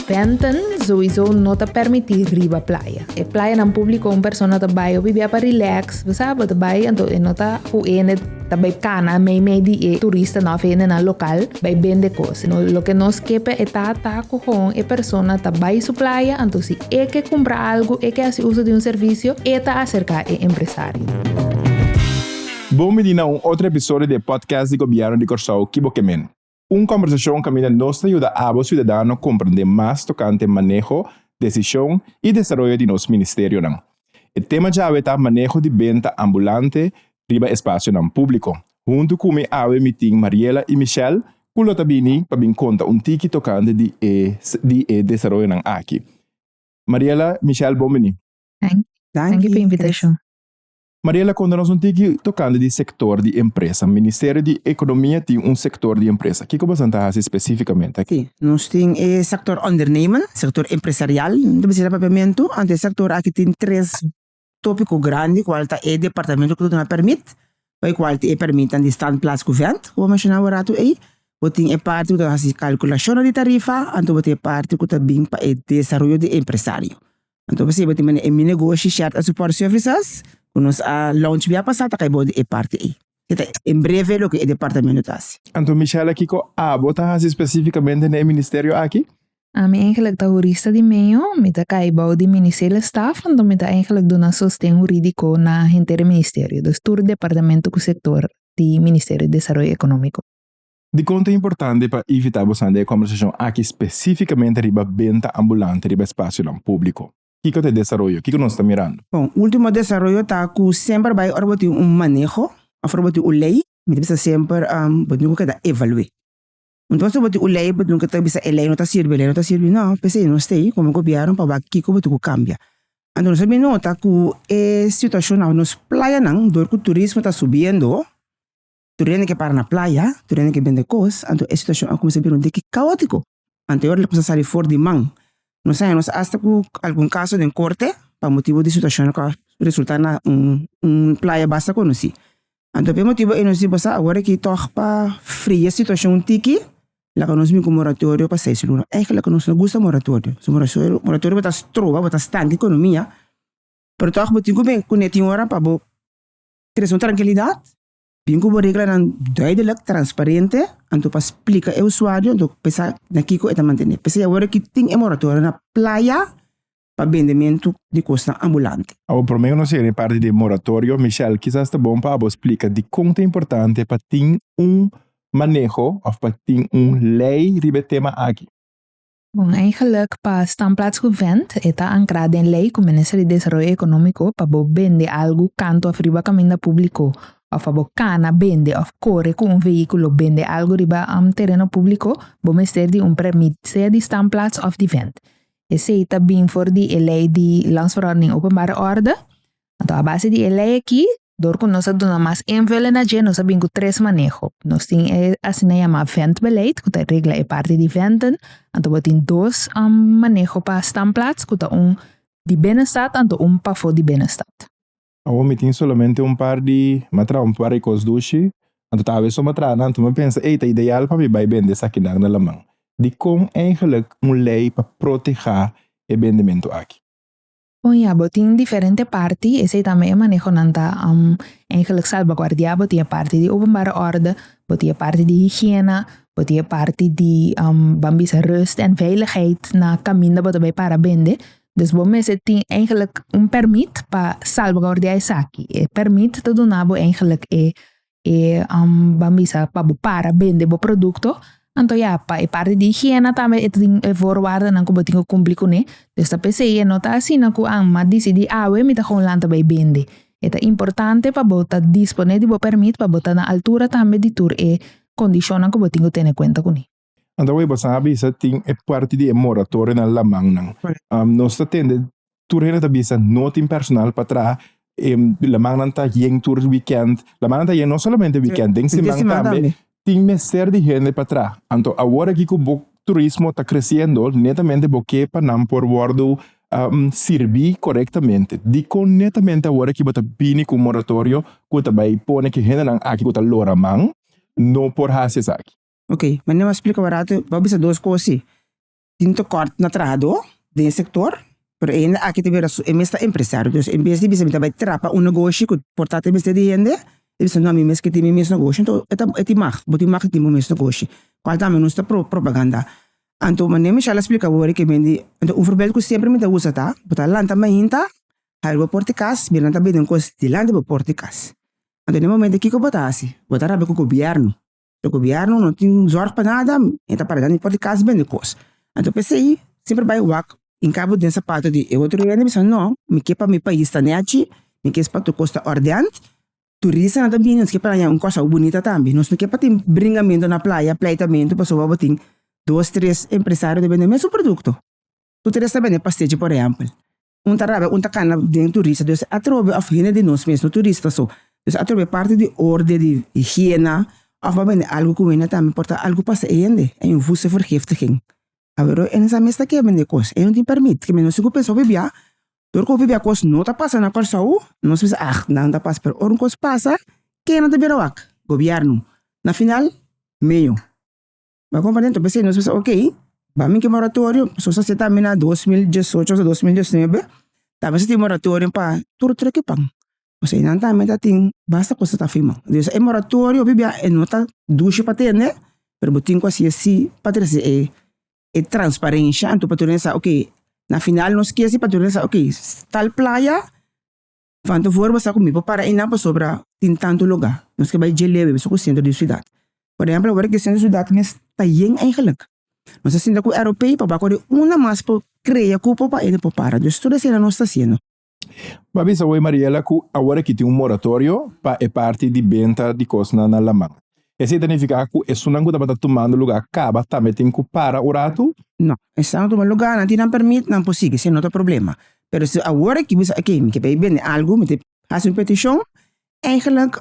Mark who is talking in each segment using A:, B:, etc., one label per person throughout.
A: Bènten souiso no ta permití riba playa. E playanan públiko un persona ta bai ofi bia pa rilèks, bo sa, bo ta bai anto e no ta ku hende ta bai kana meimei di e turistan òf hendenan lokal bai bende kos. Loke nos ke pa eta ta ku kon e persona ta bai su playa, anto si e ke kumpra algu, e ke hasi uso di un servisio, e ta aserká e empresario.
B: Bon bini na un otro episodio di e podcast di Gobièrnu di Kòrsou, Kibokemen. Un kòmbersashon kaminda nos ta yuda abo siudadano komprendé mas tokante maneho, desishon i desaroyo di nos ministerionan. E tema djawe ta maneho di benta ambulante riba espasionan públiko. Huntu ku mi awe mi tin Mariela i Michelle ku lo ta bini pa bin konta un tiki tokante di e di e desaroyonan aki. Mariela, Michelle bon bini. Danki
A: pa invitashon. Mariela
B: konta nos un tiki tokante di sektor di empresa. Ministerio di Ekonomia tin un sektor di empresa. Kiko boso nan ta hasi spesifikamente? Sí, nos tin e
C: sektor ondernemen, sektor empresarial, no ta bisita papiamentu, anto e sektor aki tin tres topiko grandi kual ta e departamento ku ta duna pèrmit, pa e kual tin e pèrmitnan di standplaats ku vènt ku bo a menshona awe ratu ei, bo tin e parti ku ta hasi kalkulashonnan di tarifa, anto bo tin e parti ku ta bin pa e desaroyo di empresario. Anto bo sirba tin mane e mi negoshi Shert and Support Services ku nos a launch bia pasá ta kai bo di e parti ei. E ta en breve loke e departamento ta hasi. Anto Michela kiko
B: abo ta hasi spesifikamente na e ministerio aki? Ami eigenlik
A: ta hurista di medio, mi ta kai bou di minisela staf, anto mi ta eigenlik duna sosten huridiko na henter e ministerio, dus tur departamento ku sektor di Ministerio di Desaroyo Ekonómiko. Dikon ta
B: importante pa ivitá bo sali e kòmbersashon aki spesífikamente riba benta ambulante riba espasionan públiko? Kiko ta e desaroyo? Kiko nos ta mirando? Bon, último desaroyo
C: ta ku semper bai ora bo tin un maneho òf ora bo tin un lei, bo ta bisa semper bo tin ku keda evalu'é. Unda pasobra bo tin un lei bo tin ku ta bisa e lei no ta sirbi, e lei no ta sirbi. Nò, p'esei nos ta ei komo gobièrnu pa wak kiko bo tin ku kambia. Anto nos a bin nota ku e situashon na nos playanan dor ku turismo ta subiendo, tur hende ke para na playa, tur hende ke bende kos, anto e situashon a kuminsá bira un tiki kaótiko. Anterior lo kuminsá sali for di man. Nos sa, nos asta ku algun kaso den korte pa motibu di situashonnan ku a resultá na un un playa basta konosí. Anto p'e motibu ei nos di bo sa awor aki tòg pa fria situashon un tiki, laga nos bin ku moratorio pa seis luna. Eigentlik nos no gusta moratorio. Moratorio bo ta stroba, bo ta stanta ekonomia, pero tòg bo tin ku bin ku ne tin ora pa bo kres un trankilidat. Tin ku bo reglanan duidelijk, transparente, anto pa splika e usuario, anto pesa na kiko e ta mantene. P'esei awor ki tin e moratorio na playa pa bendementu di kosnan ambulante. Awor prome ku nos yega na e
B: parti di e moratorio, Michelle, kisas ta bon pa abo splika dikon ta importante pa tin un maneho òf pa tin un lei riba e tema aki. Bon, ei
A: geluk pa Standplaats Govent, e ta ankra den lei ku Minister di Desaroyo Ekonómiko pa bo bende algu kantu òf riba kaminda públiko òf pa bo kana, bende òf kore ku un vehíkulo bende algu riba tereno públiko, bo mester di un pèrmit sea di Standplaats òf di Vent. Esei ta bin for di e lei di Landsverordening Openbare Orde, Anto a base di e ley aki, dor ku nos a duna mas invullen na dje, nos a bin ku tres maneho. Nos tin e asina yama ventbeleid ku ta regla e parti di venten. Anto bo tin dos maneho pa standplaats ku ta un di binnenstad anto un pafo di binnenstad. Awor mi
B: tin solamente un par di, mi a traha un par di kos dushi, anto ta haber so mi a traha nan, anto mi a pensa ey ta ideal pa mi bai bende esakinan na laman. Dikon eigenlik un ley pa proteha e bendementu aki? Bon ya,
A: bo tin diferente parti, esei tambe e manehonan ta eigenlijk salbaguardiá, bo tin e parti di openbare orde, bo tin e parti di higiena, bo tin e parti di ban bisa rust en veiligheid na kaminda bo ta bai para bende, dus bo mester tin eigenlijk un pèrmit pa salbaguardiá esaki, e pèrmit ta duna bo eigenlijk e e ban bisa pa bo para bende bo producto anto ya pa e parte di higiena tambe e ta tin e voorwaardennan ku bo tin ku kumpli kuné dus ta pesei e no ta asina ku a mi a disidí awe mi ta kon lanta bai bende e ta importante pa bo ta dispone di bo permit pa bo ta na altura tambe di tur e kondishonnan ku bo tin ku tene kuenta kuné. Anto awor bo sa
B: bisa tin e parti di e moratorio na lamannan. Nos ta tende tur hende ta bisa no tin personal pa traha. E lamannan ta yen tur wikènt. Lamannan ta yen no solamente wikènt, den siman tambe tin mester di hende pa traha. Anto awor aki ku bo turismo ta kresiendo netamente bo ke pa nan por wòrdu sirbi korektamente. Dikon netamente awor aki bo ta bini ku un moratorio ku ta bai pone ku e hendenan aki ku ta loraman no
C: por
B: hasi
C: esaki?
B: Ok
C: mane bo a
B: splika
C: barato bo a
B: bisa dos
C: cos ayi tin tekort na trahador den e sector pero e hende aki ta bira su e mes ta empresario dus en bes di bisa mitaba e trapa un negoshi ku por ta te mester di hende e bisa no ami mes ke tin mi mes negoshi enton e ta e tin mag bo tin mag tin bo mes negoshi cual tambe nos ta pro propaganda anto mane Michelle a splika wor ke men di anto un forbeid ku semper mi ta usa ta bo ta lanta mainta hari bo por te kas bo lanta biden cos dilanti bo por te kas anto den e momento kiko bo ta hasi bo ta rabia ku gobierno. e gobierno no tin zorg pa nada, e ta para dandi for di cas bende cos, anto p'esey semper bai wak hinca bo den sapato di e otro hende bisa no, mi ke pa mi pais ta nechi, mi ke pa tur cos ta ordenant, turista nan ta bini nos ke pa haña un cos awo bunita tambe, nos no ke pa tin bringamento na playa, pleitamento pasobra bo tin dos, tres empresario ta bende e mesun producto, tur tres ta bende pastechi por ehempel Un ta rabia, un ta cana den turista. Dios atrobe of hende di nos mes no turista so. Dios atrobe parti di orde di higiena of ba bende algo cu hende tambe por ta algo pasa e hende. E infuso vergiftiging. Averho e sa mes ta ke bende cos. E no tin permit. Kende nos tin cu pensa hopi bia. Dor cu hopi bia cos no ta pasa na Corsou, nos pensa ah nan ta pasa. Pero ora un cos pasa, kende ta bira wak? Gobierno. Na final, meo. Nan compra den topesey nos bisa ok ba miki moratorio pasobra sa seta mi na dos mil diesocho o ta dos mil diesnuebe ta bisa tin moratorio pa tur trek e pan pasobra enan ta menta tin basta cosa ta firma dus e moratorio pabia e no ta dushi pa tende pero bo tin cu hasier si pa trece e transparencia anto patur nan sa ok na final nos kesi patur nan sa ok tal playa Fantavor basta ku mi por para einan pasobra tin tantu lugá. Nos ke bai dje lewe bishi ku sentro di siudat. Por ehèmpel awor ke sentro di siudat mes ta yen eigenlik. Nos a sinta ku eropeo pa bak orí unda mas por krea kupo pa ende por para. Dus tur esei nan nos ta hasiendo. Mi a bisa
B: bo ei Mariela ku awor aki tin un moratorio pa e parti di benta di kosnan na laman. Esei ta nifiká ku esunnan ku tabata tumando lugá kaba tambe tin ku para un ratu? No. Esnan ku tuma
C: lugá nan tin nan pèrmit nan por sigui, si no ta problema. pero si awor aki mi sa oké mi ta bay bende algu mi ta hasi un peticion eigenlijk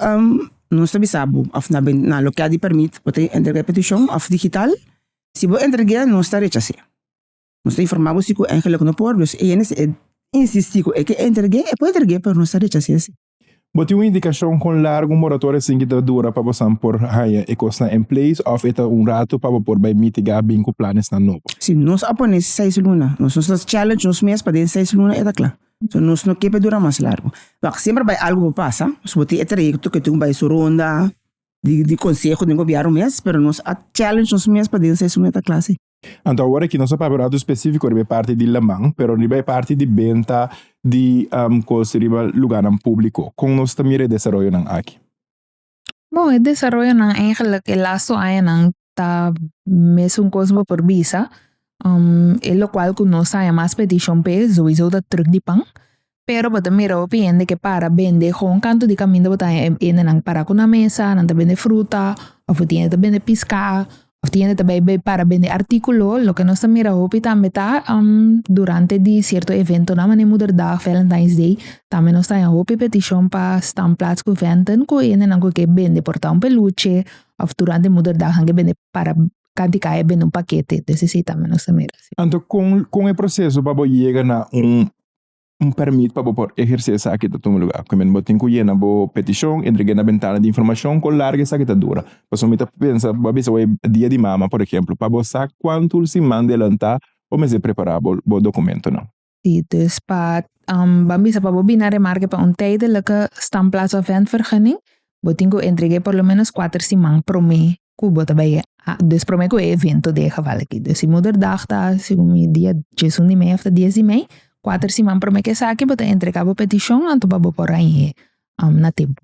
C: nos ta bisa bo of na bende na loke di permit bo ta entrega e peticion of digital si bo entrega nos ta rechase nos ta informa bo si ku eigenlijk no por dus e hende si e insistí ku e ke entrega e por entrega pero nos ta rechase si. Bo tin un
B: indikashon kon largu un moratoria sinki ta dura pa bosan por haña e kosnan en place òf e ta un ratu pa bo por bai mitiga bin ku planesnan nobo? Si nos a pone
C: seis luna, nos nos ta challenge nos mes pa den seis luna e ta kla. So nos no ke pa dura mas largu. Wak, semper bai algu por pasa, so bo tin e trayekto ke tin ku bai su ronda di konseho den gobièrnu mes, pero nos a challenge nos mes pa den seis luna e ta kla si. Anto awor aki nos
B: a papia un ratu específico riba e parti di laman, pero riba e parti di benta di cos riba lugarnan público, con nos ta mira e desaroyonan aki? Bon,
A: e desaroyonan eigenlijk e laatste añanan ta mes un cos bo por bisa, e locual cu nos a haña mas petición p'e, sowieso ta terug di pan, Pero bo ta mira hopi hende ke para bende kon kantu di kaminda bo ta haña e hendenan para ku na mesa, nan ta bende fruta, òf tin hende ta bende piskà, òf tin hende ta bai bai para bende artíkulo. Loke nos ta mira hopi tambe ta durante di sierto eventonan manera Moederdag, Valentine's Day, tambe nos ta haña hopi petishon pa stamplaats ku vènten ku e hendenan ku ke bende portá un peluche òf durante Moederdag nan ke bende para kanti kaya bende un pakete. Entonces esei tambe nos ta mira. Anto kon kon
B: e proseso pa bo yega na un Un permit pa bo por ehersé esaki ta tuma lugá. Primer bo tin ku yena bo petishon, entregu'é na bentana di informashon ku largu esaki ta dura. Pasobra mi ta pensa bo a bisa bo e Dia di Mama, por ehemplu, pa bo sa kuantu siman delantá bo mester prepará bo bo dokumentunan. Si, dus pa
A: ban bisa pa bo bini a remarke pa un tijdelike Stamplaats of Ventvergunning, bo tin ku entregu'é por lo ménos kuater siman promé cu bo ta bay a. Dus prome cu e evento di e geval aki. Dus si moederdag ta segun mi dia tjies un di mei of ta dies di mei, kuater siman prome cu esaki bo ta entrega bo peticion anto pa bo por rañe na tempo.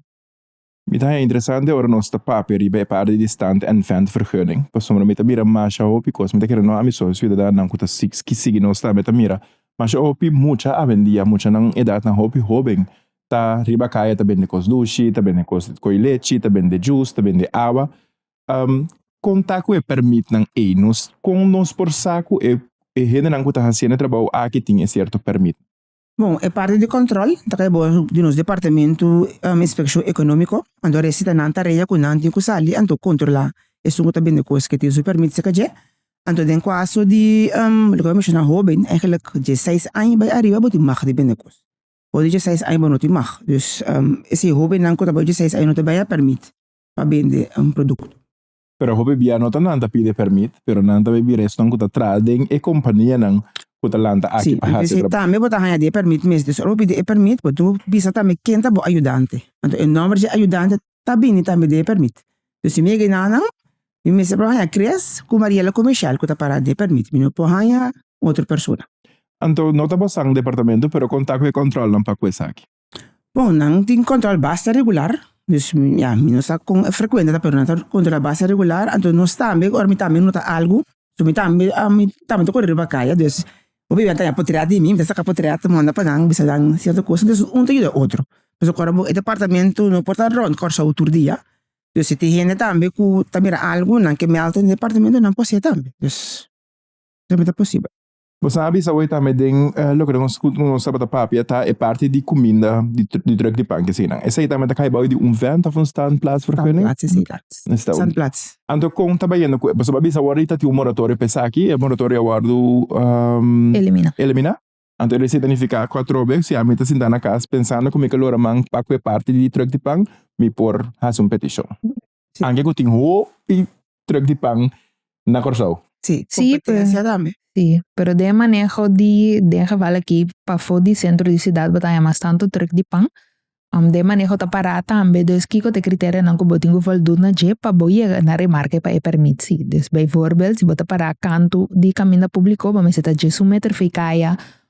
A: Mi ta haña
B: interesante ora nos ta papia riba e parti di Stand and Vent Vergunning, pasobra mi ta mira masha hopi cos. Mi ta kere noha mi socio ciudadanan cu ta sigi nos tambe ta mira masha hopi mucha awendia, muchanan edadnan hopi hoben ta riba kaya ta bende kos dushi ta bende kos koi lechi ta bende jus ta bende awa kon ta ku e permitnan ey nos kon nos por sa ku e e hendenan ku ta hasiendo e trabou aki tin e sierto permit. Bon e parti
C: di kontrol ta kai bo di nos departamentu inspekshon ekonomiko anto a resi ta nan tarea ku nan tin ku sali anto kontrola esun ku ta bende kos ke tin su permit seka dje anto den kuaso di loke bo menshoná hoben eigenlik di seis aña bai ariba bo tin mag di bende kos Ora dje seis aña bo no tin mag. Dus esei hobennan ku ta bou dje seis aña no ta bai a pèrmit pa bende un produkto. Pero
B: hopi bia no ta nan ta pidi pèrmit, pero nan ta bai bira esnan ku ta traha den e kompanianan ku ta lanta aki pa hasi e trabou. Tambe bo
C: ta haña
B: di e
C: pèrmit mes. Dus ora bo pidi e pèrmit, bo debe bisa tambe ken ta bo ayudante. Anto e nòmber di e ayudante ta bini tambe di e permit. So si mi e genanan, mi mester por haña kres ku Mariela ku Michelle ku ta para di e permit, mi no por haña un otro persona. Anto no ta
B: basa un departamento, pero kon ta ku e kòntròlnan pa ku esaki? Bon, nan
C: tin kòntròl basta regular, dus ya, mi no sa kon frekuente ta, pero nan ta kontrolá basta regular. Anto nos tambe, ora mi tambe nota algu, so mi tambe ami tambe ta kore riba kaya dus hopi a taña potread di mi mi ta saka potread ta manda pa nan bisa nan cierto cosa entonces un ta yuda otro pasobra cuando bo e departamento no por ta rond Curaçao tur dia dus si tin hende tambe ku ta mira algu nan ke meld den departamento nan por hacia tambe dus esei mi ta posibel. Bo sa a bisa awor
B: tambe den loke nos ku nos tabata papia ta e parti di kuminda di druk di pan kesinan. Esei tambe ta kai bou di un vent of un standplaatsvergunning? Standplaats.
C: Anto kon ta
B: bayendo ku e? Pasobra a bisa awor i ta tin un moratorio pa esaki, e moratorio a wòrdu eliminá. Anto esei ta nifiká ku atrobe si ami ta sintá na kas pensando ku mi ke loranan pak ku e parti di druk di pan, mi por hasi un petishon. Si. Anke ku tin hopi truk di pan na Kòrsou. Si, kompetensia
C: tambe.
A: Si,
C: pero den e
A: maneho di den geval aki pafó di sentro di siudat bo ta haña mas tantu truk di pan. Den e maneho ta pará tambe, dus kiko ta e kriterionan ku bo tin ku voldú na dje pa bo yega na remarke pa e pèrmit? Si, dus beivoorbeeld si bo ta pará kantu di kaminda públiko bo mester ta dje su meter vei kaya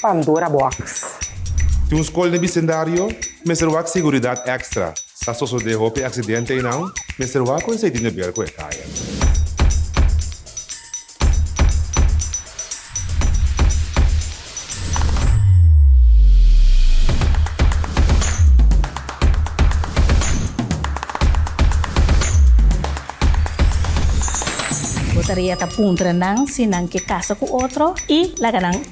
D: Pandora Box. Tin un skol
E: den bisendario, mester wak seguridat èkstra. Sa sosodé hopi aksidente einan, mester wak ku e seiti nebel ku e kaya.
F: Bo tarea ta puntra nan si nan ke kasa ku otro i laga nan.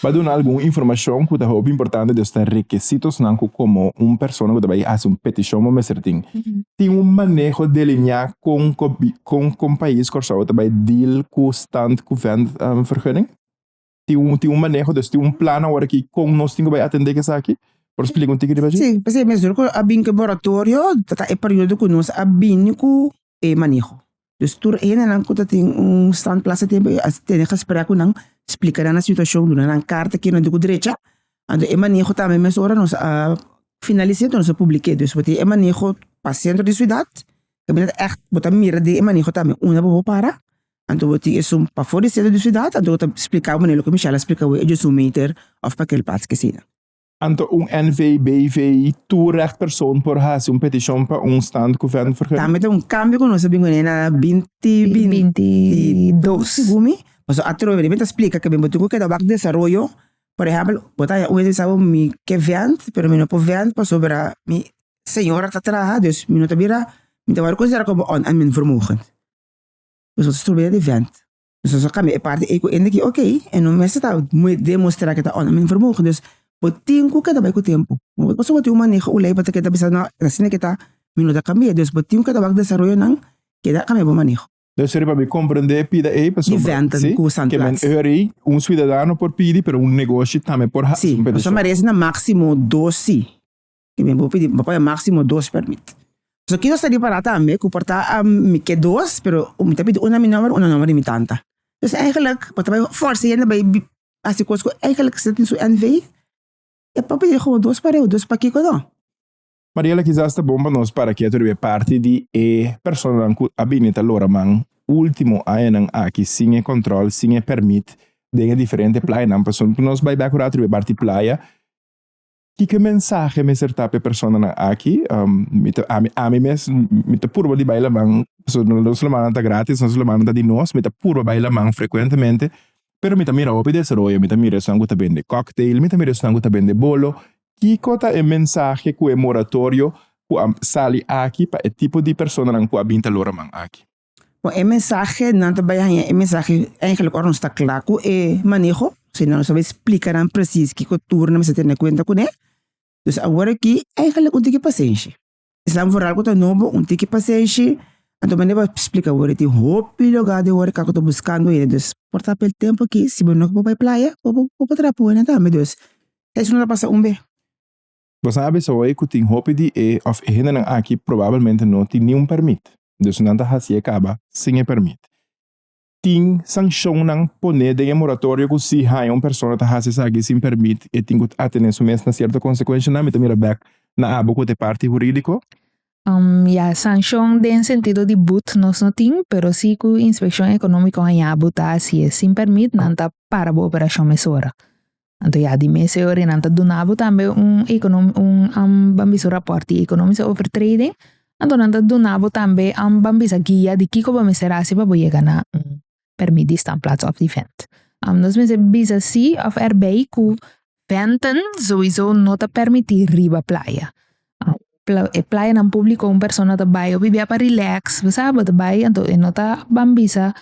B: Pa duna algun informashon ku ta hopi importante di esnan rekesitosnan ku komo un persona ku ta bai hasi un petishon bo mester tin. Tin un maneho delineá kon kon kon pais Kòrsou ta bai deal ku Stand Kuvènt vergunning? tin un, tin un maneho, dus tin un plan awor aki kon nos tin ku bai atendé ku esaki. Por splika un tiki riba dje? Sí, p'esei mesur ku a
C: bin ku e boratorio ta e periodo ku nos a bini ku e maneho. Dus tur e hendenan ku ta tin un stand plaza e tempu ei a tene gesprek ku nan, splika nan nan situashon, duna nan karta kende di ku drecha. Anto e maneho tambe mes ora nos a finalis'é nos a publik'é. Dus bo tin e maneho pa sentro di siudat, kaminda ègt bo ta mira den e maneho tambe unda bo por para, Anto bo tin esun pafó di sentra di siudat, anto bo ta splika bo manera loke Michelle a splika awor, ellos un meter of pa aquel pats ki asina. Anto un
B: NV, BV, tur recht persoon por haci un peticion pa un stand cu vent vergun. Tambe ta un cambio cu
C: nos a bin guné na binti binti dos, segun mi, paso atrobe bo deben ta splika ke ben bo tin cu keda wak desaroyo, por ehempel, bo ta haña un mes mi bisa bo mi ke vent, pero mi no por vent pasobra mi señora ta traha, dus mi no ta bira, mi ta wòrdu considera como oneingenievermogen. Nosotros ta trobaya di vent. Nosotros a cambia e parti ey cu hende ki oke, e no mester ta demostra cu e ta unda men vermogen. Dus, bo tin cu keda bay cu tempo. Bo ta pasobra tin un maneho uley bo ta keda bisa no, e asina cu e ta, mi no ta cambia. Dus, bo tin cu keda wak desaroyonan, keda cambia bo maneho. Dus,
B: riba mi comprende e pida ey, pasobra, si, Di venten cu san plaats.
C: Ke men hoor
B: ey,
C: un
B: suidadano por pidi, pero un negoshi tambe por hasi un pedesho. Si, nos a merece na
C: maximo dos si. i mi bo pidi papaya maximo dos permit so kico ta ripara tambe cu por ta mi ke dos pero mi ta pidi una mi nomber una nomber di mi tanta dus eigenlijk bo ta bai forsa yende bai hasi cos cu eigenlijk sa tin su NV e por pidi como dos pa reu dos pa kico no. Mariela
B: kisas ta bon pa nos para keto riba e parti di e personanan cu a bini ta lora man ultimo añanan aki sin e control sin e permit den e diferente playanan pasobra nos bai bek curador riba e parti playa. Kiko e mensahe mester ta pa e personanan aki? Mi ta, ami, ami mes, mi ta purba di bai laman, pasobra nos, nos lamannan ta gratis, nos lamannan ta di nos, mi ta purba bai laman frecuentemente, pero mi ta mira hopi desaroyo, mi ta mira esnan ku ta bende cocktail, mi ta mira esnan ku ta bende bolo, kiko ta e mensahe ku e moratorio ku a sali aki pa e tipo di personanan ku a bin ta loraman aki? Bon e mensahe
C: nan ta bai haña e mensahe eigenlijk ora nos ta kla ku e maneho, si no nos a bai splika nan presis kiko tur nan mester tene en kuenta kuné. Dus awor aki eigenlik un tiki pasenshi, esnan foral ku ta nobo un tiki pasenshi, anto bo no bai splika wor tin hopi lugá den wòrdu kaku ta buskando hende dus por ta pel tempu aki si bo no bai playa bo por ta traha pu hende tambe, dus esei no ta pasa un be. Bo sa
B: bisa hopi ku tin hopi di e òf e hendenan aki probabelmente no tin niun pèrmit, dus nan ta hasi e kaba sin e pèrmit. Tin sanshonnan pone den e moratorio ku si haña un persona ta hasi esaki sin pèrmit e tin ku atené su mes na sierto konsekuenshanan. Mi ta mira bèk na abo ku ta e parti hurídiko. Ya,
A: sanshon den sentido di but nos no tin, pero si ku inspekshon ekonómiko haña bo ta hasi e sin pèrmit nan ta para bo operashon mesora. Anto ya di mes e ora nan ta duna bo tambe un econo un am ban bisa un rapport di economiese over trading anto nan ta duna bo tambe am ban bisa guia di kiko bo mester hasi pa bo yega na un permit di staan plaats of di vent am nos mester bisa si of er bai ku venten sowiso no ta permiti riba playa e playa nan publico un persona ta bai hopi bia pa relax bo sa bo ta bai anto e no ta ban bisa.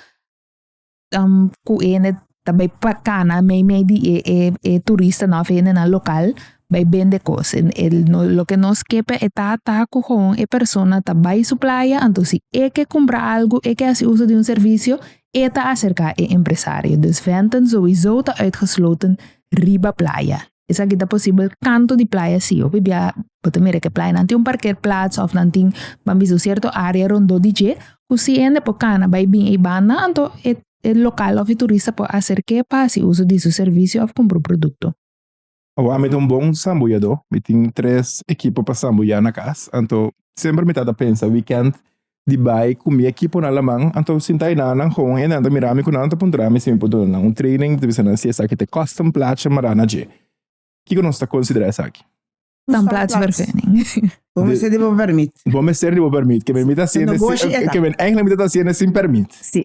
A: ku hende ta bai pa cana meimei di e e e turistanan of hendenan local bai bende cos loke nos ke pa eta ta ku hon e persona ta bai su playa anto si e ke kumpra algu e ke hasi uso di un servicio e ta acerka e empresario dus venten sowiso ta uitgesloten riba playa. Esaki ta posibel kantu di playa si hopi bia bo ta mira ke playanan tin un parker plats of nan tin ban bisa un sierto área rondó di dje ku si hende por kana bai bin ei banda anto e e lokal of e turista por aserk'é pa hasi uso di su servisio of kumpra un produkto. Awa mi
B: ta un bon sambuyadó, mi tin tres ekipo pa sambuyá na kas, anto semper mi ta ta pensa wikènt di bai ku mi ekiponan laman. Anto sinta e nannan hon e nan ta mira mi ku nan ta puntra mi si mi por duna nan un training. Mi ta bisa nan si esaki ta kosta un placha mara na dje. Kiko nos ta konsidera esaki? Ta un placha per
A: fening. Bo mester di bo
C: permit. Bo mester di bo permit.
B: Ke mi ta hasiendo sin, ke mi enkla mi ta hasiendo sin permit. Si.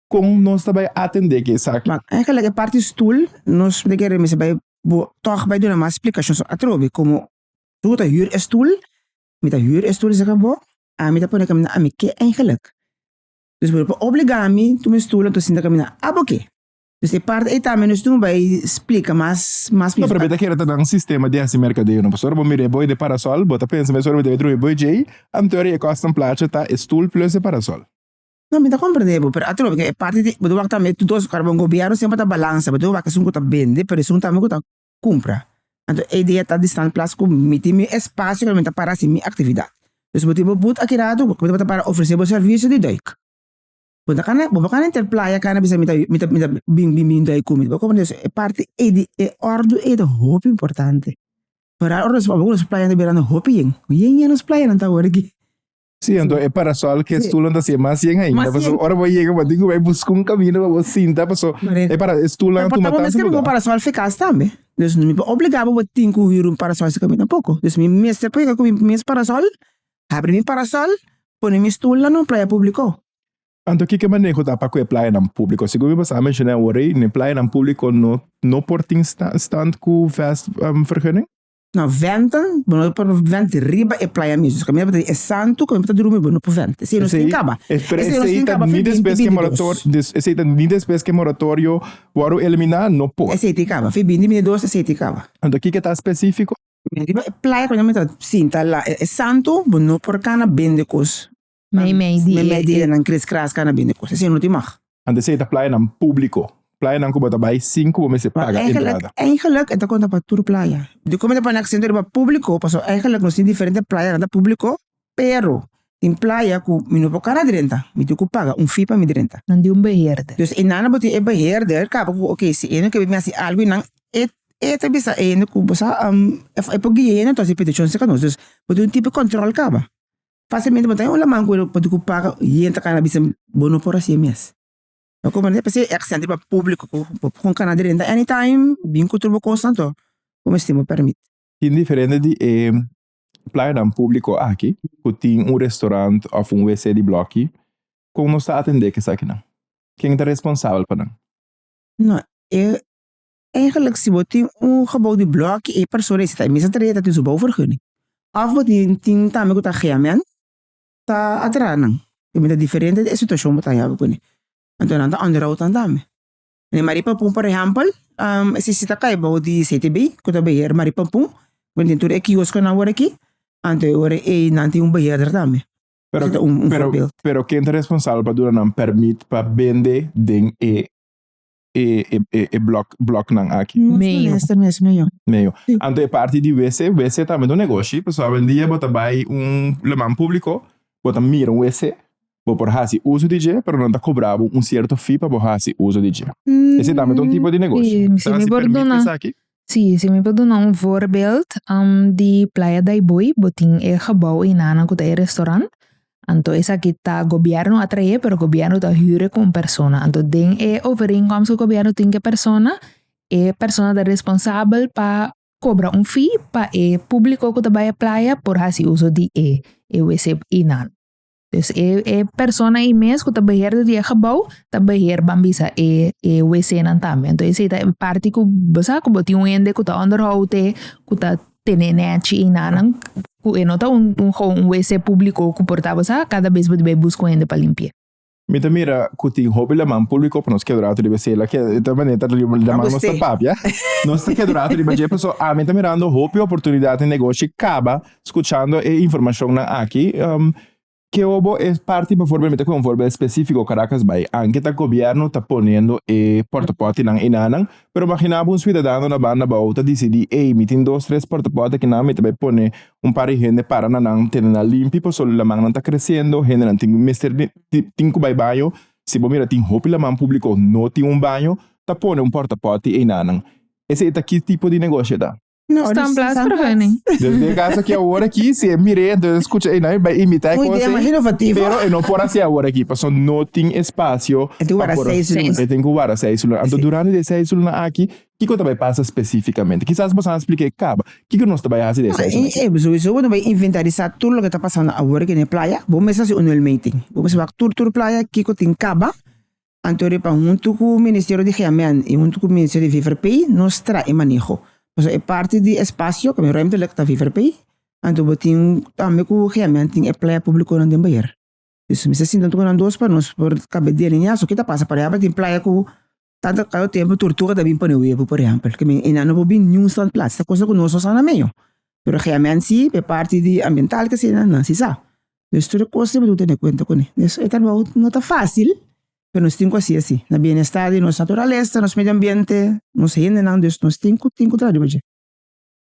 B: kon nos ta bai atendé ki esaki? Eigenlijk e parti
C: stul nos tin kere mester bai bo tòg bai duna mas splikashon so atrobe komo yu ta hür e stul, mi ta hür e stul sèk bo, a mi ta pone kaminda ami ke eigenlijk? dus bo por obligá mi tuma e stul anto sinta kaminda abo ke? dus e parti ei tambe nos tin bai splika mas mas. No pero be ta kere ta
B: nan sistema di hasi merkadeo no pasobra ora bo mira e boi de parasòl bo ta pensa mesora mi ta bai trui e boi djei anto ora i e kòs ta placha ta e stul plus e parasòl. No, mi ta
C: comprende bo, pero atrobe ke e parti di bo ta wak tambe e dos kos, pasobra gobierno siempre ta balansa, bo ta wak esun ku ta bende, pero esun tambe ku ta kumpra. Anto e idea ta di stan plas ku mi tin mi espacio ku mi ta para haci mi actividad. Si bo tin bo but aki ratu, bo ta para ofrece bo servicio di doik. Bo ta kana, bo ta kana inter playa kana a bisa mi ta mi ta bin bin bin doik ku mi. Bo comprende? So e parti ei di e òrdu ei ta hopi importante. Ora nos playa ta bira hopi yen, yen yen nos playanan ta wòrdu aki Sí, anto e
B: parasol ke stulan ta si mas yen ainda. Mas yen. Ora bo yega bo diku bai buska un kamino pa bo sinta paso e para e stulan tuma tanto lugar. Por un parasol fekas
C: tambe. Dus mi ta obliga bo bo tin ku hür un parasol si kamina poko. Dus mi mester por yega ku mi mes parasol, habri mi parasol, pone mi stul nan un playa publiko. Anto
B: kiko maneho ta pa ku e playanan publiko? Segun mi pasá menshoné awor ei, na e playanan publiko no no por tin stand ku vest vergunning? Na vent,
C: bo no por vent riba e playa mismo. Esaki mira bo ta di e santo ku mi bo ta drumi bo no por vent. Esei no tin kaba. Pero esei ta ni
B: despues ku e moratorio, esei ta ni despues ku e moratorio wòrdu eliminá, no por. Esei tin kaba. Fi binti bini
C: dos esei tin kaba. Anto kiko ta spesífiko?
B: Riba e playa
C: ku mi ta sinta la e santo bo no por kana bende kos. Meimei di e.
A: Meimei di e nan
C: kris kras ka na bini kos. Asina no tin mag. Antes esei ta playanan
B: públiko, playanan ku bo ta bai sin ku bo mester paga entrada. Eigenlik e ta konta pa
C: tur playa. Dikon mi ta pone aksento riba públiko pasobra eigenlik nos tin diferente playa nan ta públiko, pero tin playa ku mi no por kara drenta, mi tin ku paga un fee pa mi drenta. Nan di un beheerder.
A: Dus e nan nan bo tin e
C: beheerder kaba ku oke si e no ke bai mi hasi algu nan e e ta bisa hende ku bo sa e por guie hende anto hasi petichon si ka nos. Dus bo tin un tipo di kòntròl kaba. Facilmente bo ta haña un laman cu e loco pasobra cu paga yen ta cana bisa bo no por haci e mes lo comprende p'esei e accent riba publico cu bo con cana derenta any time bin cu tur bo cosnan to bo mester tin bo permit. Tin diferente di
B: e playanan publico aki cu tin un restaurant of un WC di bloki con nos ta atende c'esakinan? Ken ta responsabel pa nan? No
C: e Eigenlijk si bo tin un gebou di blòkje e persona esei ta e mester trah'e ta tin su bou vergunning. Òf bo tin tin tambe ku ta haya men ta atraha nan. E mester diferente di e situashon bo ta haya kune. Anto nan ta ònderou tan tambe. Nen Marie Pampun por ehèmpel, esei si ta kai bou di CTB, ku ta beheer Marie Pampun, ku nan tin tur e kioskonan wor aki, anto e wor ei nan tin un beheerder tambe. Pero esei ta un forbeeld.
B: Pero ken ta responsabel pa duna nan pèrmit pa bende den e e e e blok bloknan aki. Nos Meio. molesta mes
C: meio. Meio. Sí.
B: Anto e parti di WC, WC tambe ta un negoshi, pasobra hopi el dia bo ta bai un loman públiko, bo ta mira un WC, bo por hasi uso di dje, pero nan ta kobra bo un sierto fee pa bo hasi uso di dje. Esei tambe ta un tipo di negoshi. Sí, sí, mi por duna.
A: esaki? Si si mi por duna un voorbeeld di playa daiboi bo tin e gebouw ei nana ku ta e restaurant anto esaki ta gobièrnu a trae pero gobièrnu ta hüre ku un persona anto den e overeenkomst ku gobièrnu tin ku e persona e persona ta responsabel pa kobra un fee pa e públiko ku ta bai playa por hasi uso di e wc ei nan. Pues e e persona ei mes ku ta beheerder di e gebou ta beheer ban bisa e e wc nan tambe anto esei ta e parti ku bo sa ku bo tin un hende ku ta onderhou te ku ta tene nechi i nanan ku e no ta un un wc publico ku por ta bo sa kada bes bo di bai buska un hende pa limpie. Mi ta mira
B: ku tin hopi laman publico pa nos kedrato riba esei lak e ta manera ta laman nos ta papia nos ta kedrato riba dje paso ami ta mirando hopi oportunidad di negoshi kaba Scuchando e informacionnan aki, ke obo e parti paforme mi ta con un voorbeeld specifico Caracas bay, anke ta gobierno ta poniendo e portaportinan y nanan, pero magina bo un ciudadano na banda bao ta dicidi ey mi tin dos tres portaporti akinan mi ta bay pone un par di hende para na nan tene nan limpi paso lamannan ta creciendo hendenan tin mester tin cu bay baño, si bo mira tin hopi laman publico no tin un baño ta pone un portaporti ey nanan esey ta ki tipo di negocio ta? No, Staan dus plaats
C: staan
A: terug, nee. plaats. Dus den caso aquí
B: ahora aquí, si es mire, entonces escucha, y nadie va a imitar Un idea cosas. más innovativo.
C: Pero eh, no por hacer ahora
B: aquí, paso no tin espacio. E tin wara pa por-
C: seis luna. E tin ku wara seis luna. Anto
B: Sí. durante de seis luna aki, kiko ta bai pasa específicamente? Quizás bosan a splica e caba. Kiko nos ta bai hasi de seis luna? E, sowieso bo no bai inventarisá
C: tur loke ta pasando awor aki na e playa. Bo mes a hasi un nuel meting. Bo mes a wak tur tur playa kiko tin caba, Anto riba huntu ku Ministerio di Heamen i huntu ku Ministerio di VVRP nos traha e maneho pasobra e parti di espasio ku ruimtelik ta VVRP anto bo tin tambe ku Heamen tin e playa publikonan den beheer dus mester sinta junto ku nan dos pa nos por kabe delineá so ke ta pasa por ehempel tin playa ku tanta kado tempu turtuga ta bin pone webu por ehempel ke men enan no por bin niun stat plats ta kosa ku nos no sa na medio pero Heamen si p'e parti di ambiental kesei nan nan si sa Nos tur e kos debe tene kuenta kuné. E trabou no ta fásil, pero nos tin ku hasi así. Na bienestar di nos naturalesa, nos medio ambiente, nos hendenan, dus nos tin ku tin ku traha riba dje.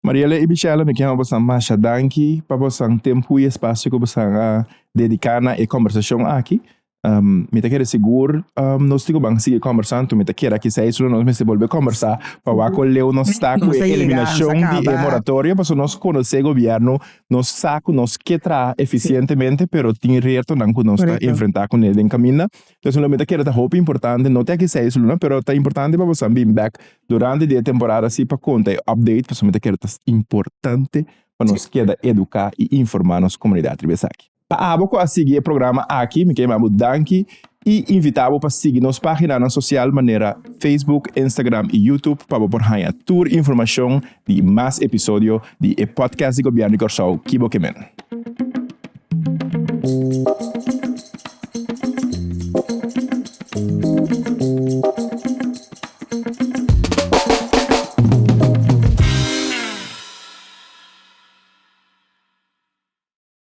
C: Mariela
B: i Bichela, mi ken a bosan masha danki pa bosan tempu i espacio ku bosan a dedica na e combersacion aki. Um, mi ta kere sigur, um, nos tico ban sigue conversando, tu mi ta kere aquí seis, nos mesti volver conversar, pa waco leo nos está con eliminación de e moratorio, paso nos conoce gobierno, nos saco, nos que tra eficientemente, pero tin reto nan cu nos ta enfrenta con el den caminda. Entonces, lo mi ta kere ta hopi importante, no te aquí seis luna, pero ta importante pa bosa bin back durante di e temporada si pa conta e update, paso mi ta kere ta importante pa nos keda educa y informa nos comunidad riba esaki. Pa abo cu a sigui e programa aki mi ta yama bo danki y invita bo pa sigui nos paginanan social manera Facebook, Instagram y YouTube pa bo por haña tur informacion di mas episodio di e podcast di Gobierno di Cor-sou ki bo ke men.